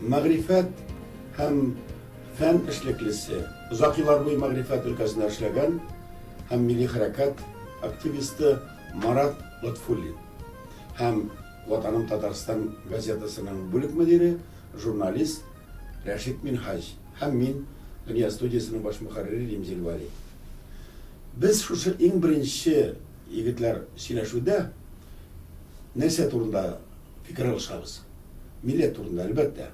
Мәгърифәт һәм фән эшлеклесе, озак еллар буе мәгърифәт өлкәсендә эшләгән һәм милли хәрәкәт активисты Марат Лотфуллин һәм Ватаным Татарстан газетасының бүлек мөдире, журналист Рәшит Минһаҗ һәм мин, Дөнья студиясенең баш мөхәррире Римзил Вәли. Без шушы иң беренче егетләр сөйләшүдә нәрсә турында фикер алышабыз? Милләт турында, әлбәттә.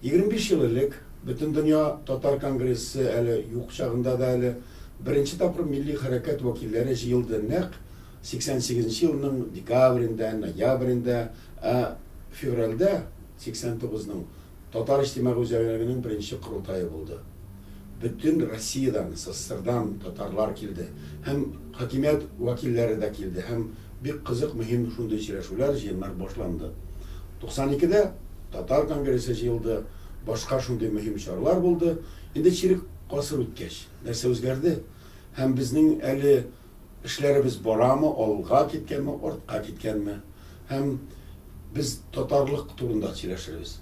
Егерме биш ел элек, Бөтендөнья татар конгрессы әле юк чагында да әле, беренче тапкыр милли хәрәкәт вәкилләре җыелды нәкъ сиксән сигезенче елның декабрендә, ноябрендә, ә февральдә сиксән тугызның Татар иҗтимагый үзәгенең беренче корылтае булды. Бөтен Россиядән, СССРдан татарлар килде һәм хакимият вәкилләре дә килде һәм Бик кызык, мөһим шундый сөйләшүләр, җыеннар башланды. 92 дә Татар конгрессы җыелды, башка шундый мөһим чаралар булды. Инде чирек гасыр үткәч, нәрсә үзгәрде? Һәм безнең әле эшләребез барамы, алга киткәнме, артка киткәнме? Һәм без татарлык турында сөйләшербез.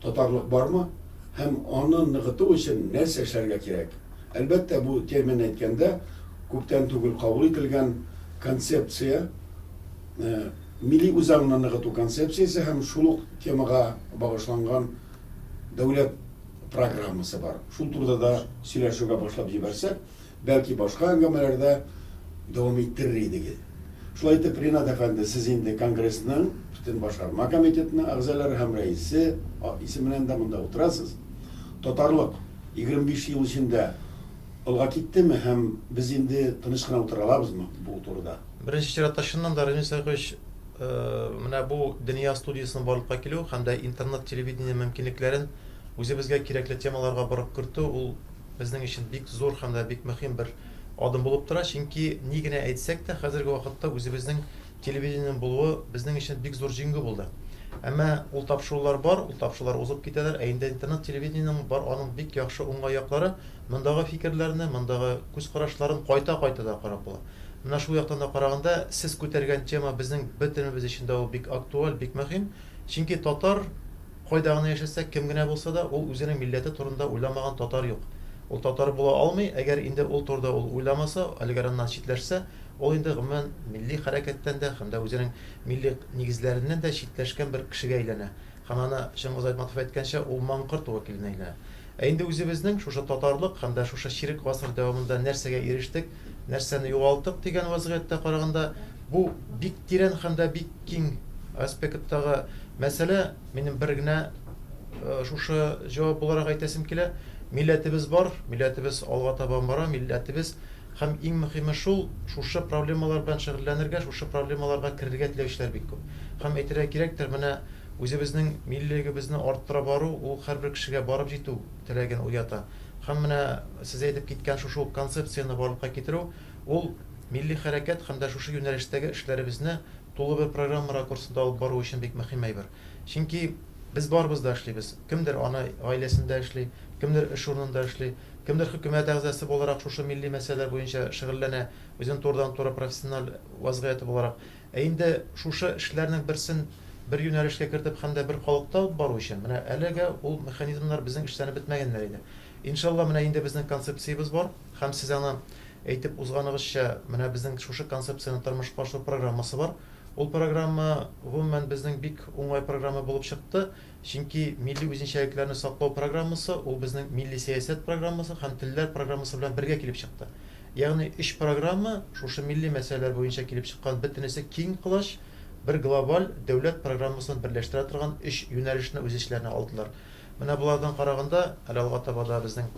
татарлык бармы һәм аны ныгыту өчен нәрсә эшләргә кирәк? Әлбәттә, бу термин әйткәндә күптән түгел кабул ителгән концепция, милли үзаңны ныгыту концепциясе һәм шул ук темага багышланган дәүләт программасы бар. Шул турыда да сөйләшүгә башлап җибәрсәк, бәлки башка әңгәмәләрдә дәвам иттерер идегез. Шулай итеп, Ринат әфәнде, сез инде конгрессның, бөтен башкарма комитетның әгъзалары һәм рәисе исеменнән дә монда утырасыз. Татарлык 25 ел эчендә алга киттеме һәм без инде тыныч кына утыра алабызмы бу турыда? Беренче чиратта, чыннан да, Рәнис Зарифович, менә бу Дөнья студиясенең барлыкка килү һәм дә интернет-телевидение мөмкинлекләрен үзебезгә кирәкле темаларга борып кертү, ул, безнең өчен бик зур һәм дә бик мөһим бер адым булып тора, чөнки ни генә әйтсәк тә, хәзерге вакытта үзебезнең телевидениенең булуы безнең өчен бик зур җиңү булды. Әмма ул тапшырулар бар, ул тапшырулар узып китәләр, ә инде интернет телевидениенең бар аның бик яхшы уңай яклары, мондагы фикерләрне, мондагы күз карашларын кайта-кайта да карап була. Менә шул яктан да караганда, сез күтәргән тема безнең бөтенебез өчен дә ул бик актуаль, бик мөһим, чөнки татар, Кайда гына яшәсә, кем генә булса да, ул үзенең милләте турында уйламаган татар юк. Ул татар була алмый, әгәр инде ул турыда ул уйламаса, әлеге раннан читләшсә, ул инде, гомумән, милли хәрәкәттән дә һәм дә үзенең милли нигезләреннән дә читләшкән бер кешегә әйләнә. Һәм аны, Чыңгыз Айтматов әйткәнчә, ул маңкорт вәкиленә әйләнә. Ә инде үзебезнең шушы татарлык һәм дә шушы чирек гасыр дәвамында нәрсәгә ирештек, Нәрсәне югалтык дигән вазгыятькә караганда, бу бик тирән һәм дә бик киң аспекттагы мәсьәлә. Минем бер генә шушы җавап буларак әйтәсем килә, милләтебез бар, милләтебез алга таба бара, милләтебез һәм иң мөхиме шул, шушы проблемалар белән шөгыльләнергә, шушы проблемаларга керергә теләүчеләр бик күп. Һәм әйтергә кирәктер, менә үзебезнең миллилегебезне арттыра бару, ул һәрбер кешегә барып җитү, теләген уята. Һәм менә сез әйтеп киткән шушы ук концепцияне барлыкка китерү, ул милли хәрәкәт һәм дә шушы юнәлештәге эшләребезне тулы бер программа ракурсында алып бару өчен бик мөһим әйбер. Чөнки без барыбыз да эшлибез. Кемдер ана гаиләсендә эшли, кемдер эш урынында эшли, кемдер хөкүмәт әгъзасы буларак шушы милли мәсьәләләр буенча шөгыльләнә, үзенең турыдан-туры профессиональ вазгыяте буларак. Ә инде шушы эшләрнең берсен бер юнәлешкә кертеп һәм дә бер халыкта алып бару өчен, менә әлегә ул механизмнар безнең эшләнеп бетмәгәннәр иде. Иншалла, менә инде безнең концепциябез бар һәм сез аны әйтеп узганыгызча, менә безнең шушы концепцияне тормышка ашыру программасы бар. Ул программа, гомумән, безнең бик уңай программа булып чыкты. Чөнки милли үзенчәлекләрне саклау программасы, ул безнең милли сәясәт программасы һәм телләр программасы белән бергә килеп чыкты. Ягъни өч программа шушы милли мәсьәләләр буенча килеп чыккан бөтенесе киң колач, бер глобаль дәүләт программасын берләштерә торган өч юнәлешне үз эчләренә алдылар. Менә болардан караганда, әле алга таба да безнең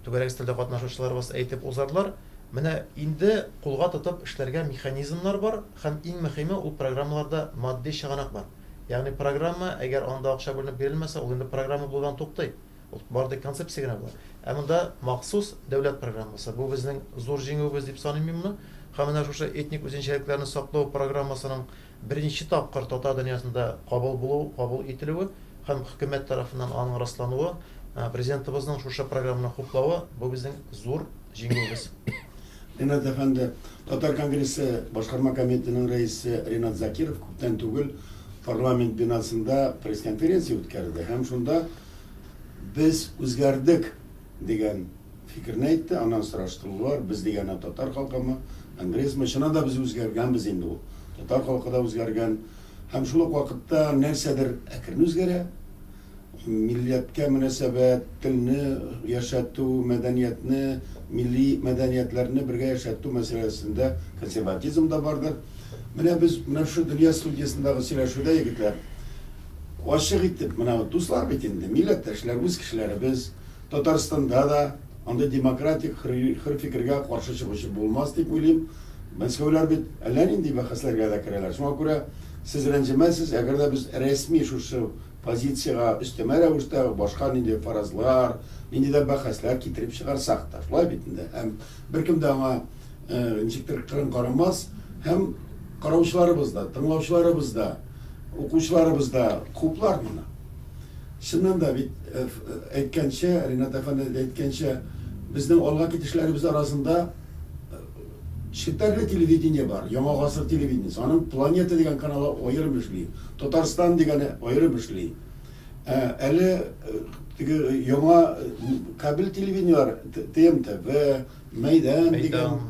түгәрәк өстәлдә катнашучыларыбыз әйтеп узарлар, менә инде кулга тотып эшләргә механизмнар бар һәм иң мөхиме, ул программаларда матди чыганак бар. Ягъни программа, әгәр анда акча бүленеп бирелмәсә, ул инде программа булудан туктый. Ул бары тик концепция генә була. Ә монда махсус дәүләт программасы. Бу безнең зур җиңүебез дип саныйм мин моны. Һәм менә шушы этник үзенчәлекләрне саклау программасының беренче тапкыр татар дөньясында кабул булу, кабул ителүе һәм хөкүмәт тарафыннан аның раслануы, Президентыбызның шушы программаны хуплавы, бу безнең зур Җиңүебез. Ринат әфәнде, Татар конгрессы башкарма комитетының рәисе Ринат Закиров күптән түгел парламент бинасында пресс-конференция үткәрде һәм шунда без үзгәрдек дигән фикерне әйтте, аннан сораштылылар, без дигәне татар халкымы, конгрессмы, чыннан да без үзгәргәнбез инде ул. Татар халкы да үзгәргән. Һәм шул ук вакытта нәрсәдер әкрен үзгәрә. милләткә мөнәсәбәт, телне яшәтү, мәдәниятне, милли мәдәниятләрне бергә яшәтү мәсьәләсендә консерватизм да бардыр. Менә без менә шушы Дөнья студиясендәге сөйләшүдә, егетләр, ачык итеп, менә дуслар бит инде, милләттәшләр, үз кешеләребез, Татарстанда да андый демократик хөр фикергә каршы чыгучы булмас дип уйлыйм. Мәскәүләр бит әллә нинди бәхәсләргә дә керәләр. Шуңа күрә сез рәнҗемәсез, әгәр дә без рәсми шушы позициягә өстәмә рәвештә башка нинди фаразлар, нинди дә бәхәсләр китереп чыгарсак та, шулай бит инде, һәм беркем дә аңа ничектер кырын карамас, һәм караучыларыбыз да, тыңлаучыларыбыз да, укучыларыбыз да хуплар моны. Чыннан да бит, әйткәнчә, Ринат әфәнде әйткәнчә, безнең алга китешләребез арасында, Челтәрле телевидение бар, Яңа гасыр телевидениесе. Аның Планета дигән каналы аерым эшли, Татарстан дигәне аерым эшли. Ә әле теге яңа кабель телевидениеләр, ТМТВ, Мәйдан дигән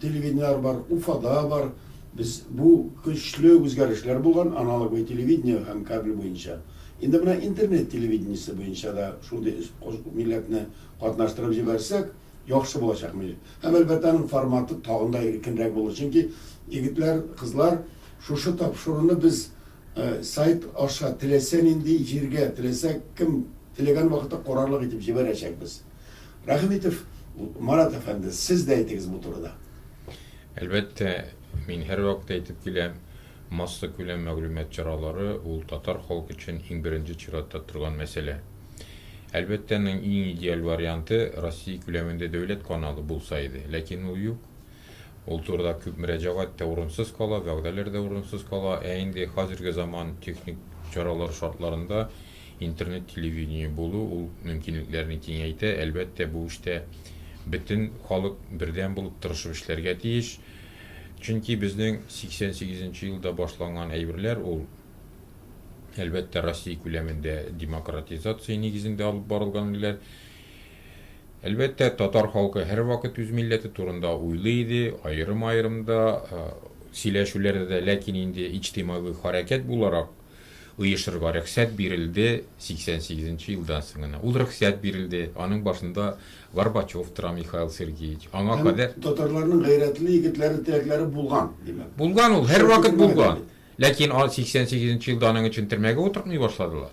телевидениеләр бар, Уфада бар. Без бу көчле үзгәрешләр булган аналоговое телевидение һәм кабель буенча. Инде менә интернет телевидениесе буенча да шундый милләтне катнаштырып җибәрсәк, Яхшы булачак милли. Һәм әлбәттә аның форматы тагын да иркенрәк булыр. Чөнки егетләр, кызлар шушы тапшыруны без сайт аша теләсә нинди җиргә, теләсә кем теләгән вакытта карарлык итеп җибәрәчәкбез. Рәхмитов Марат әфәнде, сез дә әйтегез бу турыда. Әлбәттә, мин һәрвакыт әйтеп киләм. Массакүләм мәгълүмат чаралары ул татар халкы өчен иң беренче чиратта торган мәсьәлә. Әлбәттә, аның иң идеаль варианты Россия күләмендә дәүләт каналы булса иде, ләкин ул юк. Ул турыда күп мөрәҗәгать тә урынсыз кала, вәгъдәләр дә урынсыз кала, ә инде хәзерге заман техник чаралары шартларында интернет телевидение булу ул мөмкинлекләрне киңәйтә, әлбәттә, бу эштә бөтен халык бердәм булып тырышып эшләргә тиеш. Чөнки безнең 88 нче елда башланган әйберләр ул, әлбәттә, Россия күләмендә демократизация нигезендә алып барылган иделәр. Әлбәттә, татар халкы һәрвакыт үз милләте турында уйлый иде, аерым-аерым да сөйләшүләрдә дә, ләкин инде иҗтимагый хәрәкәт буларак, оешырга рөхсәт бирелде 88 нче елдан соң гына. Ул рөхсәт бирелде, аның башында Горбачев тора, Михаил Сергеевич. Аңа Һәм кадәр татарларның гайрәтле егетләре, терәкләре булган, димәк. Булган ул, һәрвакыт Шәкертләр булган. бит. Ләкин а 88 нче елда аның өчен төрмәгә утыртмый башладылар.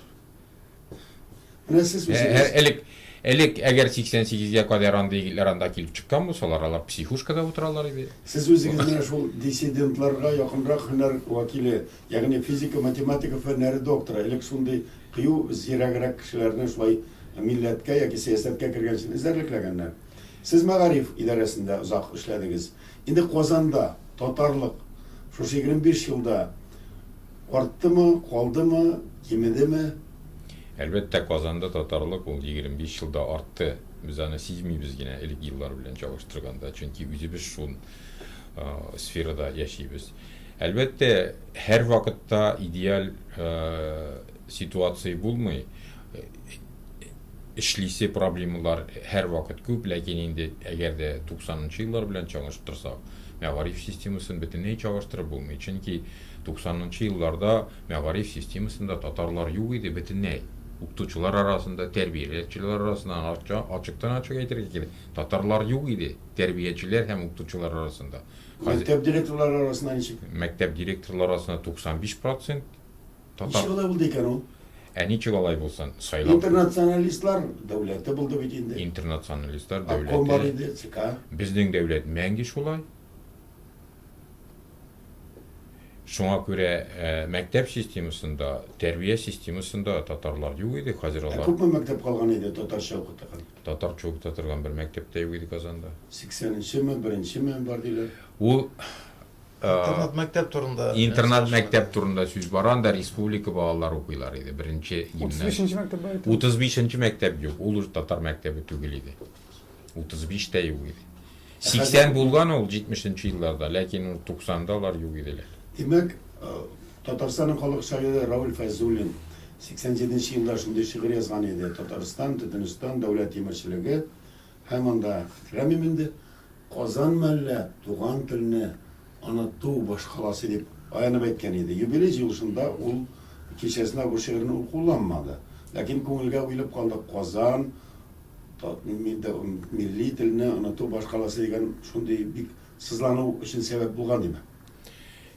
Менә сез үзегез элек элек әгәр 88-гә кадәр андый егетләр анда килеп чыккан булсалар, алар психушкада утыралар иде. Сез үзегез менә шул диссидентларга якынрак һөнәр вәкиле, ягъни физика, математика фәннәре докторы. Элек шундый кыю, зирәгрәк кешеләрне шулай милләткә яки сәясәткә кергән өчен эзәрлекләгәннәр. Сез мәгариф идарәсендә озак эшләдегез. Инде Казанда татарлык шушы 25 елда арттымы, калдымы, кимедеме? Әлбәттә, Казанда татарлык ул 25 елда артты. Без аны сизмибез генә элек еллар белән чагыштырганда, чөнки үзебез шул сферада яшибез. Әлбәттә, һәр вакытта идеаль ситуация булмый. эшлисе проблемалар һәрвакыт күп, ләкин инде әгәр дә 90 нчы еллар белән чагыштырсак, мәгариф системасын бөтенләй чагыштырып булмый, чөнки 90 нчы елларда мәгариф системасында татарлар юк иде бөтенләй. Укытучылар арасында, тәрбияләүчеләр арасында, ачыктан-ачык әйтергә кирәк, татарлар юк иде, тәрбиячеләр һәм укытучылар арасында. Мәктәп директорлары арасында ничек? Мәктәп директорлары арасында 95 процент. Татар. Ничек алай булды икән ул? Ә ничек алай булсын? Сайлау. Интернационалистлар дәүләте булды бит инде. Интернационалистлар дәүләте. Обком бар иде, ЦК. Безнең дәүләт мәңге шулай. Шуңа күрә ә, мәктәп системасында, тәрбия системасында татарлар юк иде, хәзер алар. Ә күпме мәктәп калган иде татарча укытырган? Татарча укыта торган бер мәктәптә юк иде Казанда. 80-нчеме, 1-нчеме бар диләр. Ул Интернат мәктәп турында. Интернат мәктәп турында сүз бара, анда республика балалары укыйлар иде, беренче гимназия. 35 нче мәктәп бар икән. 35 нче мәктәп юк, ул уже татар мәктәбе түгел иде. 35 тә юк иде. 80 булган ул 70 нче елларда, ләкин ул 90 да алар юк иделәр. Димәк, Татарстанның халык шагыйре Рауль Фәйзуллин 87 нче елда шундый шигырь язган иде, Татарстан, Төтенстан, дәүләт тимерчелеге, Һәм анда Хәмим инде Казанмы әллә туган телне оныту башкаласы дип аянып әйткән иде. Юбилей җыелышында ул кичәсенә бу шигырьне ул кулланмады. Ләкин күңелгә уелып калды Казан милли телне оныту башкаласы дигән шундый бик сызлану өчен сәбәп булган диме?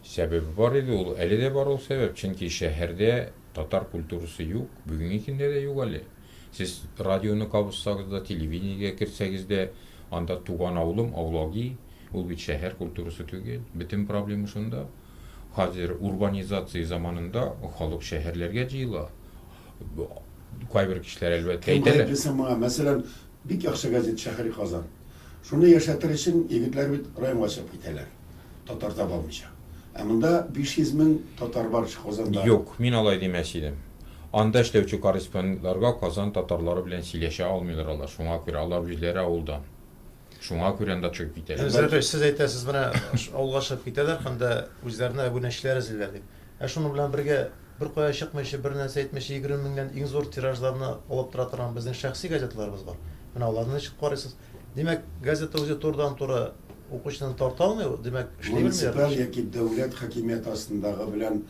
Сәбәбе бар иде ул, әле дә бар ул сәбәп, чөнки шәһәрдә татар культурасы юк, бүгенге көндә дә юк әле. Сез радионы кабызсагыз да, телевидениегә керсәгез дә, анда туган авылым, Аулаги, ул бит шәһәр культурасы түгел. Бөтен проблема шунда. Хәзер урбанизация заманында халык шәһәрләргә җыела. Кайбер кешеләр, әлбәттә, Кем әйтәләр. гаеплесең моңа? Мәсәлән, бик яхшы газет Шәһри Казан. Шуны яшәтер өчен егетләр бит районга чыгып китәләр. татар таба алмыйча. Ә монда 500 мең татар бар ич Казанда. Юк, мин алай димәс идем. Анда эшләүче корреспондентларга Казан татарлары белән сөйләшә алмыйлар алар, шуңа күрә, алар үзләре авылдан. Шуңа күрә анда чыгып китәләр. Әмзә абый, сез әйтәсез, менә авылга чыгып китәләр һәм дә үзләренә әбүнәчеләр эзлиләр дип. Ә шуның белән бергә, беркая чыкмыйча, бернәрсә әйтмичә, 20 меңнән иң зур тиражларны алып тора торган безнең шәхси газеталарыбыз бар. Менә аларны ничек карыйсыз? Димәк, газета үзе турыдан-туры укучыны тарта алмый ул, димәк, эшли белмиләр. Муниципаль яки дәүләт хакимияте астындагы белән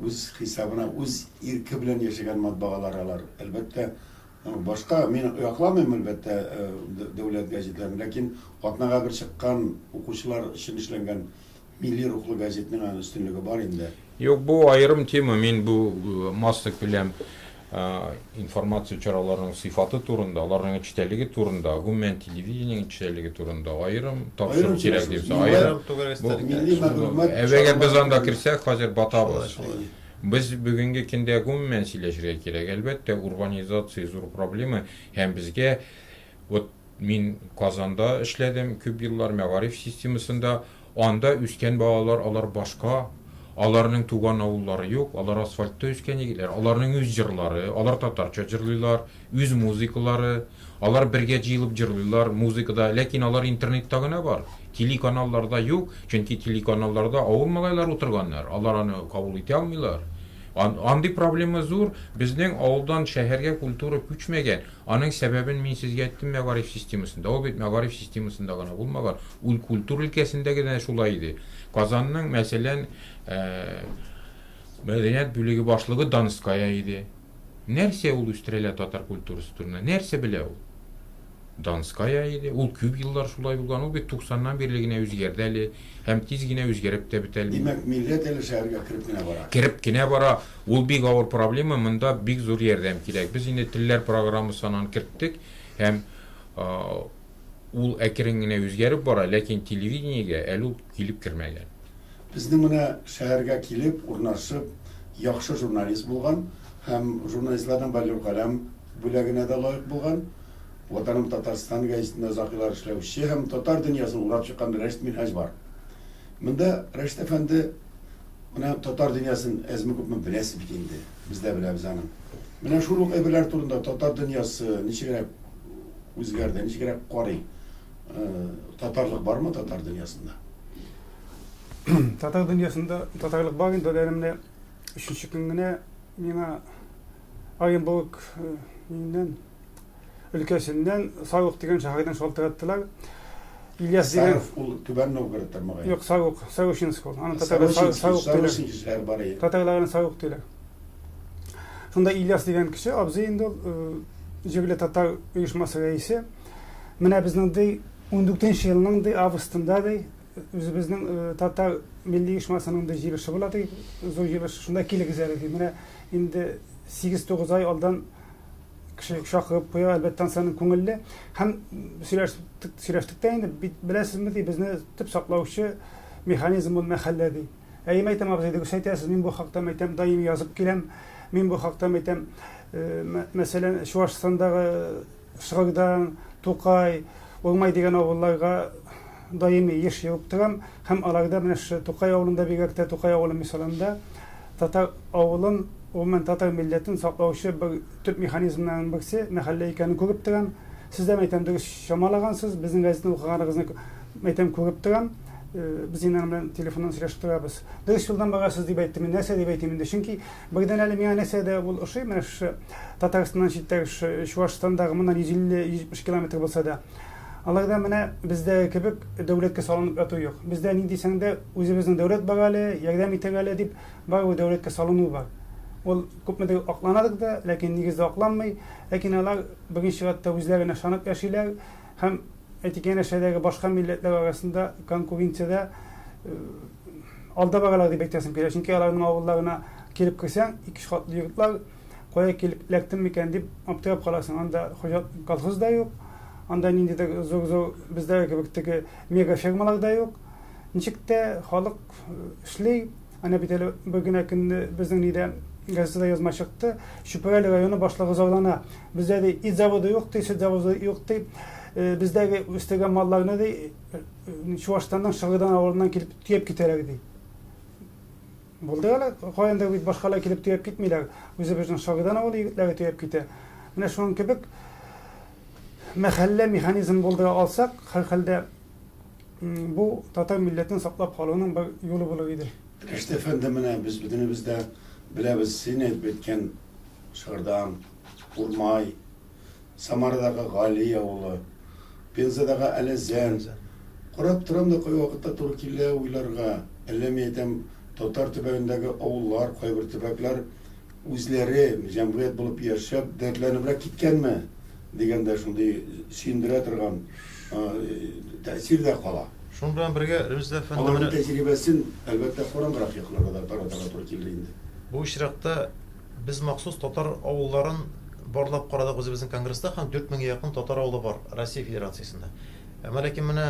үз хисабына, үз ирке белән яшәгән матбагалар алар. Әлбәттә, башка, мин якламыйм, әлбәттә, дәүләт газетларын, ләкин атнага бер чыккан, укучылар өчен эшләнгән Милли рухлы газетның аны өстенлеге бар инде. Юк, бу аерым тема, мин бу масса күләм информация чараларының сыйфаты турында, аларның эчтәлеге турында, гомумән телевидение эчтәлеге турында аерым тапшыру кирәк дип саныйм. Бу милли мәгълүмат. Әгәр без анда керсәк, хәзер батабыз. Без бүгенге көндә гомумән сөйләшергә кирәк. Әлбәттә, урбанизация зур проблема һәм безгә Вот мин Казанда эшләдем күп еллар, мәгариф системасында. Анда үскән балалар, алар башка, аларның туган авыллары юк, алар асфальтта үскән егетләр, аларның үз җырлары, алар татарча җырлыйлар, үз музыкалары, алар бергә җыелып җырлыйлар, музыкада, ләкин алар интернетта гына бар, телеканалларда юк, чөнки телеканалларда авыл малайлары утырганнар, алар аны кабул итә алмыйлар. Андый проблема зур, безнең авылдан шәһәргә культура күчмәгән, Аның сәбәбен мин сезгә әйттем мәгариф системасында. Ул бит мәгариф системасында гына булмаган, ул культура өлкәсендә генә дә шулай иде. Казанның, мәсәлән, мәдәният бүлеге башлыгы Донская иде. Нәрсә ул үстерәлә татар культурасы турында? Нәрсә белә ул? Донская иде. Ул күп еллар шулай булган. Ул бит 90-нан бирле генә үзгәрде әле һәм тиз генә үзгәреп тә бетә алмый. Димәк, милләт әле шәһәргә кереп кенә бара. Кереп кенә бара. Ул бик авыр проблема, монда бик зур ярдәм кирәк. Без инде телләр программасы анан керттек һәм ул әкрен генә үзгәреп бара, ләкин телевидениегә әле ул килеп кермәгән. Безнең менә шәһәргә килеп урнашып, яхшы журналист булган һәм журналистларның Бәллүр каләм бүләгенә дә лаек булган, Ватаным Татарстан гәҗитендә озак еллар эшләүче һәм татар дөньясын урап чыккан Рәшит Минһаҗ бар. Монда Рәшит әфәнде. Менә татар дөньясын әзме-күпме беләсез бит инде. Без дә беләбез аны. Менә шул ук әйберләр турында татар дөньясы ничегрәк үзгәрде, ничегрәк карый? Э, татарлык бармы татар дөньясында? Татар дөньясында татарлык бар инде, әле менә өченче көн генә миңа Оренбург миннән өлкәсеннән Савык дигән шәһәрдән шалтыраттылар. Ильяс дигән Саров ул Түбән Новгород тармагы. Юк, Савык, Савышинск ул. Аны татарлар Савык диләр. бар иде. Татарлар аны Савык диләр. Шунда Ильяс дигән кеше, абзый инде ул, җирле татар оешмасы рәисе. Менә безнең ди 14 елның ди августында ди Үзебезнең татар милли оешмасының да җыелышы була ди, зур җыелыш, шунда килегез әле ди. Менә инде 8-9 ай алдан кеше чакырып куя, әлбәттә, ансаның күңелле. Һәм сөйләштек, сөйләштек тә инде, беләсезме ди, безне төп саклаучы механизм ул мәхәллә ди. Әй, мәйтәм абзый, дөрес әйтәсез, мин бу хакта мәйтәм даими язып киләм. Мин бу хакта мәйтәм, мәсәлән, Чуашстандагы Срогдан, Тукай, Урмай дигән авылларга даими еш йөреп торам һәм аларда менә шушы Тукай авылында бигрәк тә Тукай авылы мисалында татар авылын, гомумән татар милләтен саклаучы бер төп механизмнарның берсе мәхәллә икәнен күреп торам. Сез дә, мәйтәм, дөрес чамалагансыз, безнең газетаны укыганыгызны, мәйтәм, күреп торам. Без инде аның белән телефоннан сөйләшеп торабыз. Дөрес юлдан барасыз дип әйттем мин. Нәрсә дип әйтим инде, чөнки Быйдан әле миңа нәрсә дә ул ошый, менә шушы Татарстаннан читтәге шушы Чуашстандагы моннан 150-170 километр булса да, аларда менә бездәге кебек дәүләткә салынып яту юк. Бездә ни дисәң дә, үзебезнең дәүләт бар әле, ярдәм итер әле дип, барыбер дәүләткә салыну бар. Ул күпмедер акланадыр да, ләкин нигездә акланмый. Ләкин алар беренче чиратта үзләренә ышанып яшиләр һәм, әйтик, янәшәдәге башка милләтләр арасында конкуренциядә алдабаралар дип әйтәсем килә, чөнки аларның авылларына килеп керсәң, ике катлы йортлар, кая килеп эләктем микән дип аптырап каласың. Анда хуҗа колхоз да юк, анда ниндидер зур-зур бездәге кебек теге мега фермалар да юк. Ничек тә халык эшли, әнә бит әле бер генә көнне безнең нидә газетада язма чыкты, Чүпрәле районы башлыгы зарлана. Бездә ди ит заводы юк, ди, сөт заводы юк, ди. Бездәге үстергән малларны ди Чуашстанның Шыгыдан авылыннан килеп төяп китәләр ди. Булды әле, каян да бит башкалар килеп төяп китмиләр. Үзебезнең Шыгыдан авылы егетләре төяп китә. Менә шуның кебек мәхәллә механизм булдыра алсак, һәрхәлдә бу татар милләтен саклап калуның бер юлы булыр иде. Рәшит әфәнде, менә без бөтенебез дә беләбез, син әйтеп үткән Шыгырдан, Урмай, Самарадагы Гали авылы, Пензадагы Әләзән. Карап торам да кай вакытта туры килә уйларга. Әллә мин әйтәм, татар төбәгендәге авыллар, кайбер төбәкләр үзләре җәмгыять булып яшәп, дәртләнебрәк киткәнме? дигән дә шундый сөендерә торган тәэсир дә кала. Шуның белән бергә Рөмездә әфәнде менә. Аларның тәҗрибәсен, әлбәттә, караңгырак якларга да таратырга туры килер инде. Бу очракта Без махсус татар авылларын барлап карадык үзебезнең конгресста һәм дүрт меңгә якын татар авылы бар Россия Федерациясендә. Әмма ләкин менә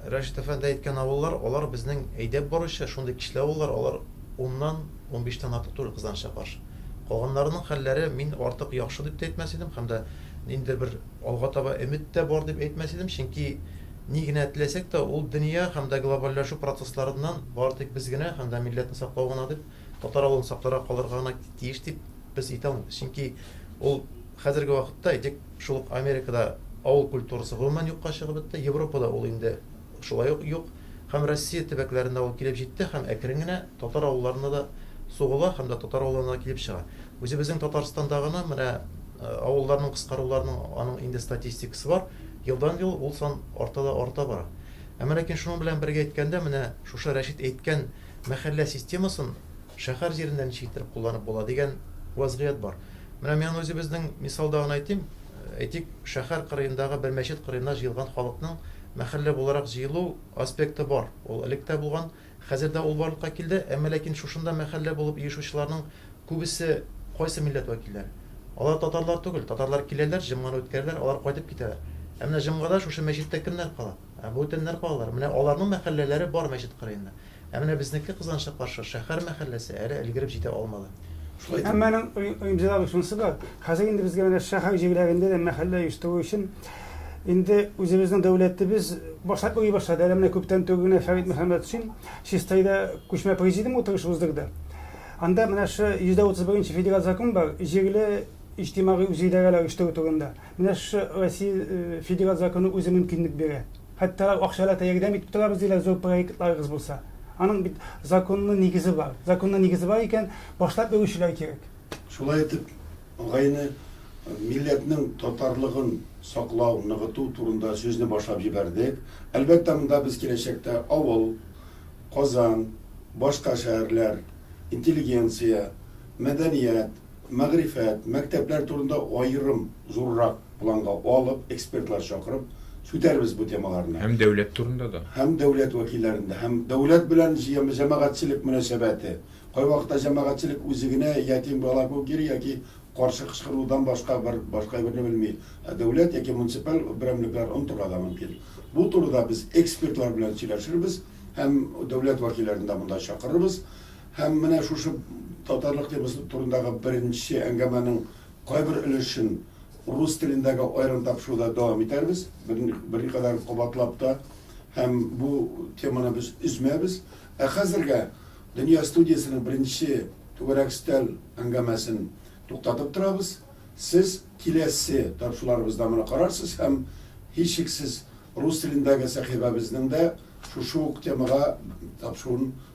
Рәшит әфәнде әйткән авыллар, алар безнең әйдәп баручы шундый кичле авыллар, алар уннан, унбиштән артык түгел кызганычка каршы. Калганнарының хәлләре мин артык яхшы дип тә әйтмәс идем һәм дә ниндидер бер алга таба өмет тә бар дип әйтмәс идем, чөнки ни генә теләсәк тә ул дөнья һәм дә глобальләшү процессларыннан бары тик без генә һәм дә милләтне саклау гына дип Татар авылын сакларга, калырга гына тиеш дип без әйтәм. Чөнки ул хәзерге вакытта, әйтик, шул ук Америкада авыл культурасы гомумән юкка чыгып бетте, Европада ул инде шулай ук юк һәм Россия төбәкләренә ул килеп җитте һәм әкрен генә татар авылларына да сугыла һәм дә татар авылларына да килеп чыга. Үзебезнең Татарстанда гына менә авылларның кыскаруларының аның инде статистикасы бар, елдан-ел ул сан арта да арта бара. Әмма ләкин шуның белән бергә әйткәндә, менә шушы Рәшит әйткән, Мәхәллә системасын шәһәр җирендә ничек иттереп кулланып була дигән вәзгыять бар. Менә мин аны үзебезнең мисалда гына әйтим. Әйтик, шәһәр кырыендагы бер мәчет кырыена җыелган халыкның мәхәллә буларак җыелу аспекты бар. Ул элек тә булган, хәзер дә ул барлыкка килде. Әмма ләкин шушында мәхәллә булып оешучыларның күбесе кайсы милләт вәкилләре? Алар татарлар түгел. Татарлар киләләр, җомганы үткәрәләр, алар кайтып китәләр. Ә менә җомгада шушы мәчеттә кемнәр кала? Ә бу төннәр калалар. Менә аларның мәхәлләләре бар мәчет кырыенда. Ә менә безнеке, кызганычка каршы, шәһәр мәхәлләсе әле өлгереп җитә алмады. Шулай итеп. Әмма аның уемҗылыгы шунысы бар, хәзер инде безгә менә шәһәр җирләрендә дә мәхәллә оештыру өчен инде үзебезнең дәүләтебез башлап йөри башлады. Әле менә күптән түгел генә Фәрит Мөхәммәтшин Чистайда күчмә президиум утырышы уздырды. Анда менә шы 131 нче федераль закон бар, җирле иҗтимагый үзидарәләр оештыру турында. Менә шушы Россия Федераль законы үзе мөмкинлек бирә. Хәтта акча да ярдәм итеп торабыз диләр, зур проектларыгыз булса. Аның бит законлы нигезе бар. Законлы нигезе бар икән, башлап йөрүчеләр кирәк. Шулай итеп, агайны милләтнең татарлыгын саклау, ныгыту турында сүзне башлап җибәрдек. Әлбәттә, монда без киләчәктә авыл, Казан, башка шәһәрләр, интеллигенция, мәдәният, мәгърифәт, мәктәпләр турында аерым зуррак планга алып, экспертлар чакырып сүтәрбез бу темаларны. Һәм дәүләт турында да. Һәм дәүләт вәкилләрен дә. Һәм дәүләт белән җәмәгатьчелек мөнәсәбәте. Кайвакытта җәмәгатьчелек үзе генә ятим бала кебек йөри яки каршы кычкырудан башка бер башка әйберне белми. Ә дәүләт яки муниципаль берәмлекләр онытырга да мөмкин. Бу турыда без экспертлар белән сөйләшербез һәм дәүләт вәкилләрен дә монда чакырырбыз. Һәм менә шушы татарлык темасы турындагы беренче әңгәмәнең кайбер өлешен рус телендәге аерым тапшыруда дәвам итәрбез, берникадәр кабатлап та, һәм бу теманы без өзмәбез. Ә хәзергә Дөнья студиясенең беренче Түгәрәк өстәл әңгәмәсен туктатып торабыз. Сез киләсе тапшыруларыбызда моны карарсыз һәм, һичшиксез, рус телендәге сәхифәбезнең дә шушы ук темага тапшыруын